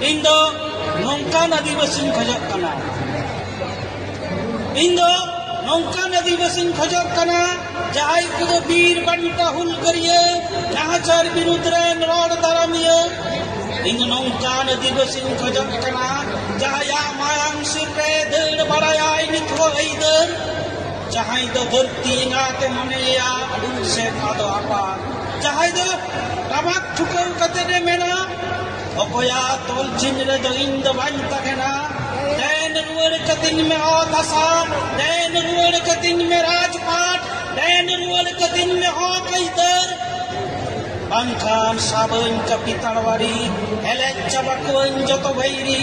ᱤᱧ ᱫᱚ ᱱᱚᱝᱠᱟᱱ ᱟᱹᱫᱤᱵᱟᱹᱥᱤᱧ ᱠᱷᱚᱡᱚᱜ ᱠᱟᱱᱟ ᱤᱧ ᱫᱚ ᱱᱚᱝᱠᱟᱱ ᱟᱹᱫᱤᱵᱟᱹᱥᱤᱧ ᱠᱷᱚᱡᱚᱜ ᱠᱟᱱᱟ ᱡᱟᱦᱟᱸᱭ ᱠᱚᱫᱚ ᱵᱤᱨ ᱵᱟᱱᱴᱟ ᱦᱩᱞᱜᱟᱹᱨᱤᱭᱟᱹ ᱱᱟᱦᱟᱪᱟᱨ ᱵᱤᱨᱩᱫᱽ ᱨᱮᱱ ᱨᱚᱲ ᱫᱟᱨᱟᱢᱤᱭᱟᱹ ᱤᱧ ᱫᱚ ᱱᱚᱝᱠᱟᱱ ᱟᱹᱫᱤᱵᱟᱹᱥᱤᱧ ᱠᱷᱚᱡᱚᱜ ᱠᱟᱱᱟ ᱡᱟᱦᱟᱸᱭᱟᱜ ᱢᱟᱭᱟᱝ ᱥᱤᱨ ᱨᱮ ᱫᱟᱹᱲ ᱵᱟᱲᱟᱭᱟᱭ ᱱᱤᱛ ᱦᱚᱸ ᱟᱹᱭᱫᱟᱹᱨ ᱡᱟᱦᱟᱸᱭ ᱫᱚ ᱵᱟᱹᱲᱛᱤ ᱮᱸᱜᱟᱛᱮ ᱢᱚᱱᱮᱭᱟ ᱟᱹᱰᱩ ᱥᱮ ᱟᱫᱚ ᱟᱯᱟᱛ ᱡᱟᱦᱟᱸᱭ ᱫᱚ ᱴᱟᱢᱟᱠ ᱴᱷᱩᱠᱟᱹᱣ ᱠᱟᱛᱮ ᱮ ᱢᱮᱱᱟ ᱚᱠᱚᱭᱟᱜ ᱛᱚᱞ ᱪᱤᱱ ᱨᱮᱫᱚ ᱤᱧ ᱫᱚ ᱵᱟᱹᱧ ᱛᱟᱦᱮᱱᱟ ᱫᱮᱱ ᱨᱩᱣᱟᱹᱲ ᱠᱟᱹᱛᱤᱧ ᱢᱮ ᱚᱛ ᱦᱟᱥᱟ ᱫᱮᱱ ᱨᱩᱣᱟᱹᱲ ᱠᱟᱹᱛᱤᱧ ᱢᱮ ᱨᱟᱡᱽᱯᱟᱴ ᱫᱮᱱ ᱨᱩᱣᱟᱹᱲ ᱠᱟᱹᱛᱤᱧ ᱢᱮ ᱦᱚᱸ ᱠᱟᱹᱭᱫᱟᱹᱨ ᱵᱟᱝᱠᱷᱟᱱ ᱥᱟᱵᱟᱹᱧ ᱠᱟᱹᱯᱤ ᱛᱟᱲᱣᱟᱨᱤ ᱮᱞᱮᱡ ᱪᱟᱵᱟ ᱠᱚᱣᱟᱹᱧ ᱡᱚᱛᱚ ᱵᱷᱟᱹᱭᱨᱤ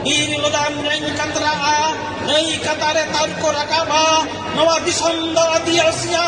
ᱵᱤᱨ ᱞᱚᱫᱟᱢ ᱨᱮᱧ ᱠᱟᱛᱨᱟᱜᱼᱟ ᱱᱟᱹᱭ ᱠᱟᱛᱟᱨᱮ ᱛᱟᱢ ᱠᱚ ᱨᱟᱠᱟᱵᱟ ᱱᱚᱣᱟ ᱫᱤᱥᱚᱢ ᱫᱚ ᱟᱹᱫᱤᱵᱟᱹᱥᱤᱭᱟ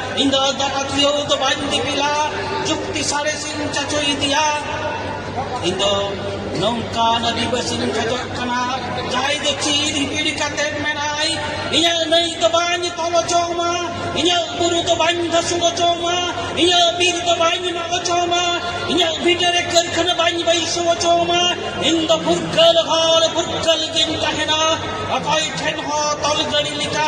ᱤᱧ ᱫᱚ ᱫᱟᱠᱟᱛᱤᱭᱟᱹᱣ ᱫᱚ ᱵᱟᱹᱧ ᱫᱤᱯᱤᱞᱟ ᱡᱩᱠᱛᱤ ᱥᱟᱬᱮᱥᱤᱧ ᱪᱟᱪᱚ ᱤᱫᱤᱭᱟ ᱤᱧ ᱫᱚ ᱱᱚᱝᱠᱟᱱ ᱟᱹᱫᱤᱵᱟᱹᱥᱤᱧ ᱠᱷᱚᱡᱚᱜ ᱠᱟᱱᱟ ᱡᱟᱦᱟᱸᱭ ᱫᱚ ᱪᱤᱨ ᱦᱤᱯᱤᱲ ᱠᱟᱛᱮ ᱢᱮᱱᱟᱭ ᱤᱧᱟᱹᱜ ᱱᱟᱹᱭ ᱫᱚ ᱵᱟᱹᱧ ᱛᱚᱞ ᱦᱚᱪᱚᱣᱟᱢᱟ ᱤᱧᱟᱹᱜ ᱵᱩᱨᱩ ᱫᱚ ᱵᱟᱹᱧ ᱫᱷᱟᱹᱥᱩᱲ ᱦᱚᱪᱚᱣᱟᱢᱟ ᱤᱧᱟᱹᱜ ᱵᱤᱨ ᱫᱚ ᱵᱟᱹᱧ ᱢᱟᱜ ᱦᱚᱪᱚᱣᱟᱢᱟ ᱤᱧᱟᱹᱜ ᱵᱷᱤᱴᱟᱹᱨᱮ ᱠᱟᱹᱨᱠᱷᱟᱱᱟ ᱵᱟᱹᱧ ᱵᱟᱹᱭᱥᱟᱹᱣ ᱦᱚᱪᱚᱣᱟᱢᱟ ᱤᱧ ᱫᱚ ᱯᱷᱩᱨᱜᱟᱹᱞ ᱦᱚᱲ ᱯᱷᱩᱨᱜᱟᱹᱞ ᱜᱤᱧ ᱛᱟᱦᱮᱱᱟ ᱚᱠᱚᱭ ᱴᱷᱮᱱ ᱦᱚᱸ ᱛᱚᱞ ᱜᱟᱹᱲᱤ ᱞᱮᱠᱟ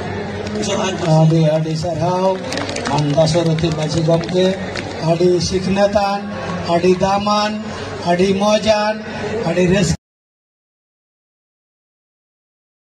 ᱟᱹᱰᱤ ᱟᱹᱰᱤ ᱥᱟᱨᱦᱟᱣ ᱟᱢ ᱫᱟᱥᱚᱨᱚᱛᱷᱤ ᱢᱟᱹᱡᱷᱤ ᱜᱚᱢᱠᱮ ᱟᱹᱰᱤ ᱥᱤᱠᱷᱱᱟᱹᱛᱟᱱ ᱟᱹᱰᱤ ᱫᱟᱢᱟᱱ ᱟᱹᱰᱤ ᱢᱚᱡᱟᱱ ᱟᱹᱰᱤ ᱨᱟᱹᱥᱠᱟᱹ